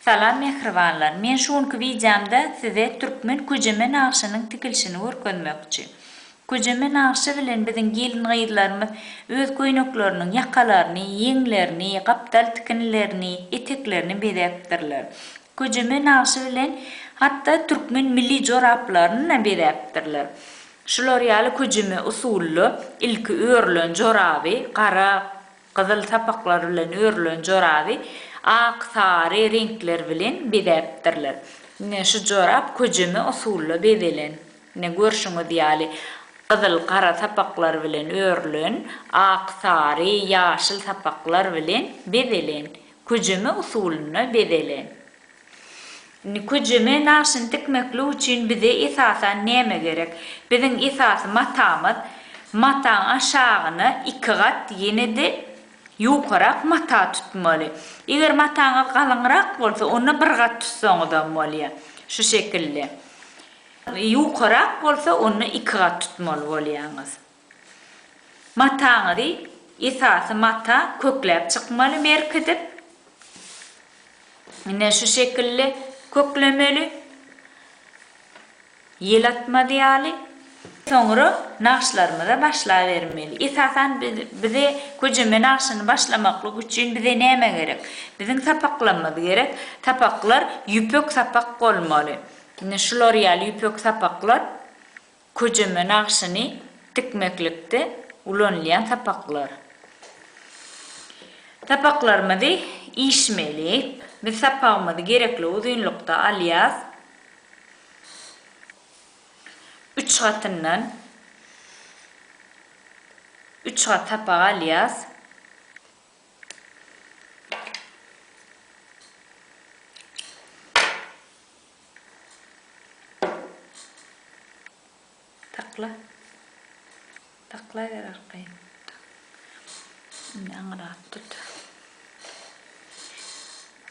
Salam mähribanlar! Men şu günki wideomda size türkmen köjeme nagşynyň tikilişini görkezmekçi. Köjeme nagşy bilen biziň gelin-gyzlarymyz öz köýnekleriniň ýakalaryny, ýeňlerini, gapdal tikinlerini, eteklerini bezäpdirler. Köjeme nagşy bilen hatda türkmen milli joraplaryny-da bezäpdirler. Şular ýaly köjeme usulda ilki örülen joraby gara Gyzyl sapaklar bilen örülen joraby ak, sary reňkler bilen bezäpdirler. Ine, şu jorap köjeme usulda bezelen. Ine, görşüňiz ýaly, gyzyl, gara sapaklar bilen örülen, ak, sary, ýaşyl sapaklar bilen bezelen. Köjeme usulynda bezelen. Nikucime naşyny tikmeklik üçin bize esasan näme gerek? Biziň esasy matamyz mataň aşagyna iki gat ýene-de ýokarak mata tutmaly. Eger mataňyz galyňrak bolsa onda bir gat tutsaňyzam bolýar. Şu şekilde. Ýokarak bolsa onda iki gat tutmaly bolýaňyz. Mataňyzy esasy mata kökläp çykmaly berkidip ine şu şekilli köklemeli ýel atmaz ýaly soňra nagyşlarymyza başlabermeli esasan bize köjeme nagyşyny başlamaklyk üçin bize näme gerek biziň sapaklarymyz gerek sapaklar ýüpek sapak bolmaly ine şular ýaly ýüpek sapaklar. Köjeme nagşyny tikmeklikde ulanylýan sapaklar. Sapaklarymyzy işmeli. Biz sapagymyzy gerekli uzynlykda alýas. Üç gatyndan üç gat sapak alýas. Sakla. Saklaýber arkaýyn. Indi aňyrrak tut.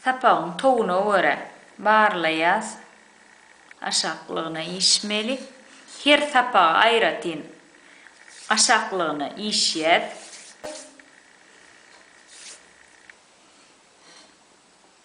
Sapagyň towuna görä barlaýas. Aşaklygyna işmeli. Her sapaga aýratyn aşaklygyna işýäs.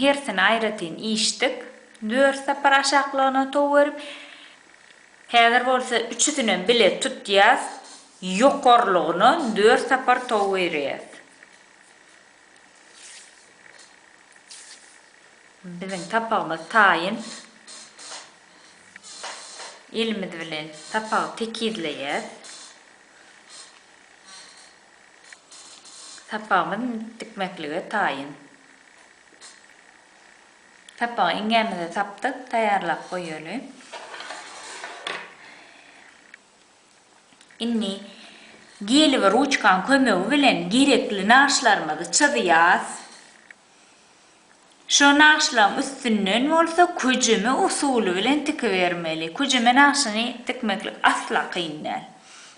Hersini aýratyn içdik. Dört sapar aşaklygyna tow berip, häzir bolsa üçüsinem bile tutýas, ýokarlygyna dört sapar tow berýäs. Biziň sapagymyz taýyn. Elimiz bilen sapagy tekizleýäs. Sapagymyz dikmeklige taýyn. Sapagy iňňämize sapdyk, taýýarlap goýaly. Indi geli we ruçkanyň kömegi bilen gerekli nagyşlarymyzy çyzýas. Şo nagşlaň üstünden bolsa köjeme usuly bilen tikibermeli. Köjeme nagşyny tikmeklik asla kyn däl.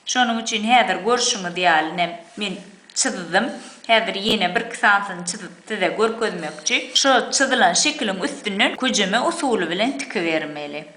Şonuň üçin häzir görşüňiz ýaly ne men çyzdym. Häzir ýene birki sanysyny çyzyp size görkezmekçi. Şo çyzylan şekiliň üstünden köjeme usuly bilen tikibermeli.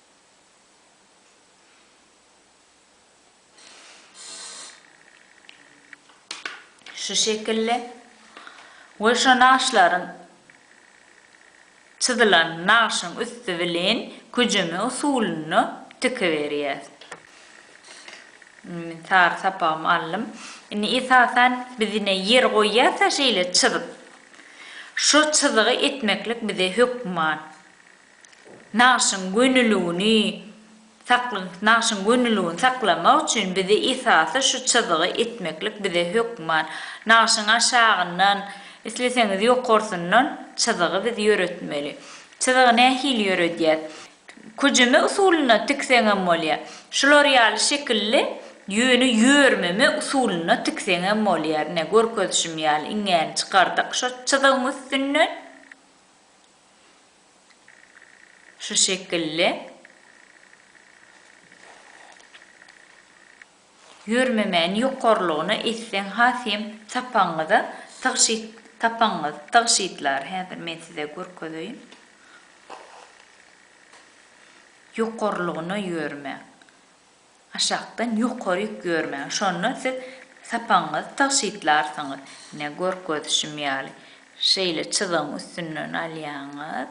Şu şekilli we şo nagyşlaryň çyzylan nagyşyň üsti bilen küjeme usulynda tikiberýäs. Indi men sary sapagymy aldym. Indi esasan biz ine ýer goýýas-a şeýle çyzyp. Şo çyzygy etmeklik bize hökman. Nagşyň gönüligini saklyň Nagşyň gönüligini saklamak üçin bizi esasy şu çyzygy etmeklik bize hökman. Nagşyň aşagyndan, isleseňiz ýokarsyndan çyzygy biz ýöretmeli. Çyzygy nähili ýöredýäs? Küjüme usulynda tikseňem bolýar. Şular ýaly şekilli ýöne ýörmeme usulynda tikseňem bolýar. Ine, görkezişim ýaly iňňäni çykardyk şu çyzygyň üstünden. Şu şekilli ýörmemäni ýokarlygyna etseň has hem sapagyňyza tygşyt sapagyňyz tygşytlar häzir men size görkezeýin ýokarlygyna ýörme Aşakdan ýokary ýük ýörmäň, şonda siz sapagyňyzy tygşytlarsyňyz, ine, görkezişim ýaly, şeýle çyzygyň üstünden alýaňyz,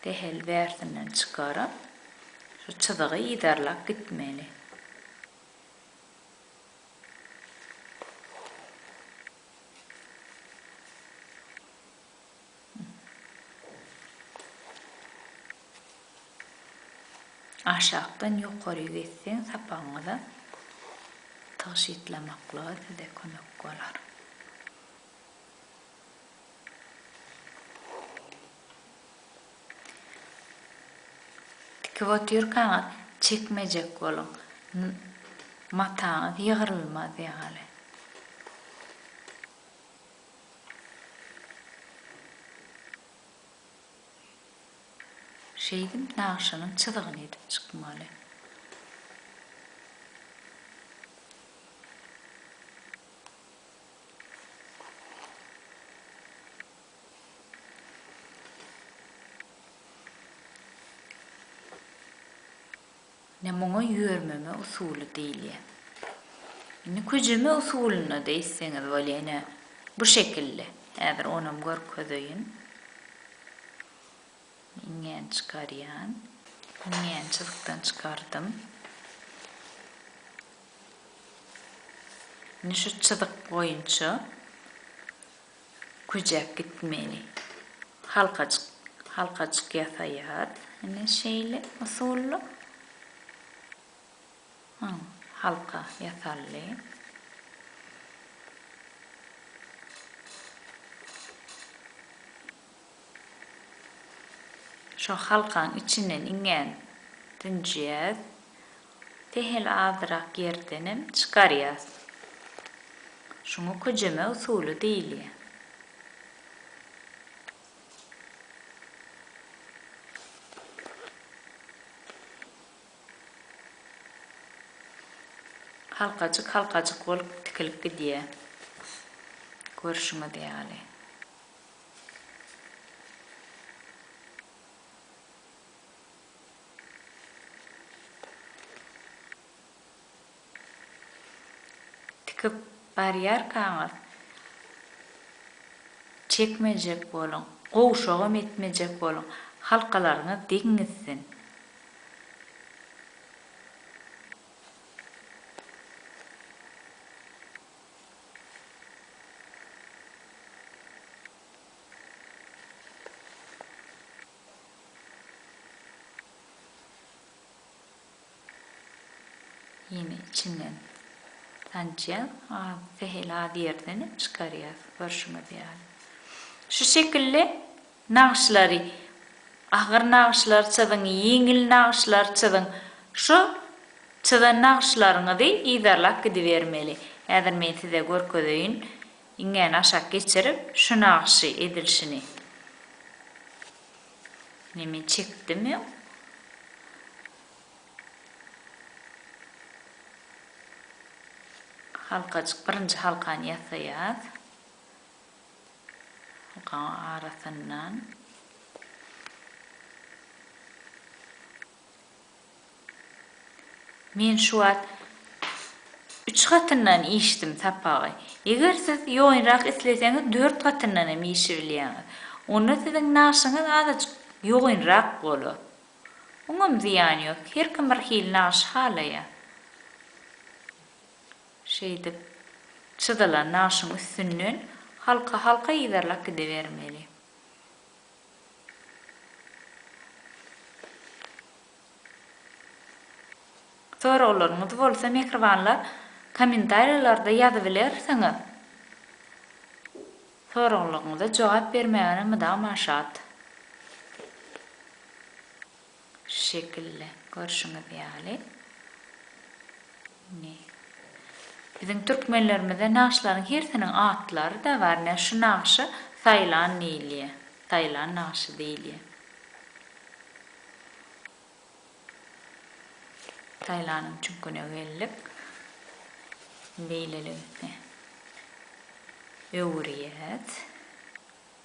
sähel bärsinden çykaryp, şu çyzygy yzarlap gitmeli. Aşakdan ýokary geçseň sapagyňyza tygşytlamaklyga size kömek bolar. Tikip otyrkaňyz çekmejek boluň. Mataňyz ýygrylmaz ýaly. Şeýdip nagşanyň çyzygyny edip çykmaly. Ine muňa ýörmeme usuly diýilýär. Indi küjeme usulynda-da etseňiz bolýar. Ine, bu şekilde. Häzir onam görkezeýin. Iňňäni çykarýan. Iňňäni çyzykdan çykardym. Indi şu çyzyk boýunça Güjäp gitmeli. Halkajyk, halkajyk ýasaýar. Ine şeýle usulda. Haw, halka ýasaldy. Şo halkaň içinden iňňän dünjýäs. Sähel azrak ýerdenem çykarýas. Şuňa köjeme usuly diýilýär. Halkajyk-halkajyk bolup tikilip gidýär. Görşüňiz ýaly. Tikip barýarkaňyz çekmejek boluň, gowşagam etmejek boluň, halkalaryňyz deň gitsin. Ýene içinden sançýa az sähel az ýerden hem çykarýas görşüňiz ýaly. Şu şekilde nagyşlary agyr nagyşlary çyzyň ýeňil nagyşlary çyzyň şu çyzan nagyşlaryňyzy yzarlap gidibermeli. Häzir men size görkezeýin. Iňňäni aşak geçirip şu nagyşy edilşini ne men çekdim öň. Halkajyk birinji halkany ýasaýas. Halkaň arasyndan. Men şu wagt üç gatyndan işdim sapagy. Eger siz ýoýunrak isleseňiz dört gatyndan hem işibilýäňiz. Onda siziň nagşyňyz azajyk ýogynrak bolar. Oňam zyýany ýok. Her kim bir hili nagşy halaýar. Şeýdip çyzylan nagşyň üstünden halka-halka yzarlap gidebermeli. Soraglaryňyzy bolsa mähribanlar kommentariýalarda ýazybilersiňiz. Soraglaryňyza jogap bermäge mydama şat. Şu şekilde, görşüňiz ýaly. Indi biziň türkmenlerimizde nagyşlaryň hersiniň atlary-da bar. Ine, şu nagşa Saýlan diýilýär. Saýlan nagşy diýilýär. Saýlanyň çüňküne geldik. Beýleligi, heh. Öwürýäs.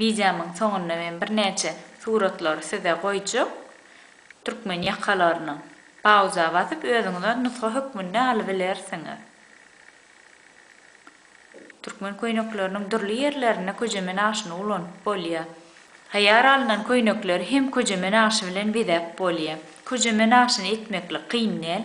Wideomyň soňunda men birnäçe suratlary size goýjak. Türkmen ýakalarynyň. Pauza basyp özüňize nusga hökmünde alybilersiňiz. Türkmen köýnekleriniň dürli ýerlerinde köjemen aşyny ulanyp bolýar. Taýýar alnan köýnekleri hem köjemen aşy bilen bezäp bolýar. Köjemen aşyny etmeklik kyn däl.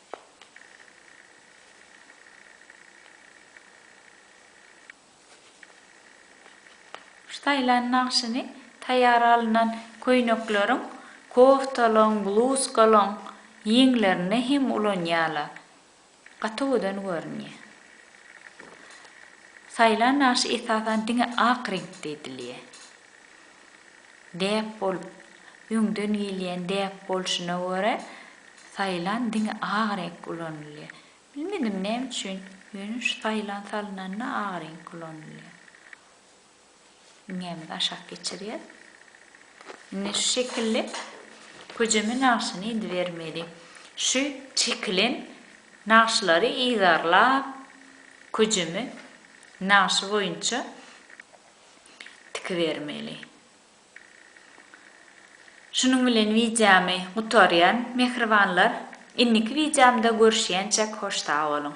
Staýlan nagşyny taýýar alnan köýnekleriň, koftalaryň, bluzkalaryň ýeňlerinde hem ulanýarlar. Gaty gözel görünýär. Staýlan nagşy esasan diňe ak reňkde edilýär. Däp bolup, öňden gelýän däp bolşuna görä, saýlan diňe ak reňk ulanylýar. Bilmedim näme üçin, ýöne şu saýlan salynanda ak reňk ulanylýar. Iňňämizi aşak geçirýäs. Indi şu şekilli köjeme nagşyny edibermeli. Şu çekilen nagşylary yzarlap, köjeme nagşy boýunça tikibermeli. Şunuň bilen wideomy gutarýan mähribanlar indiki wideomda görüşýänçäk hoş sag boluň.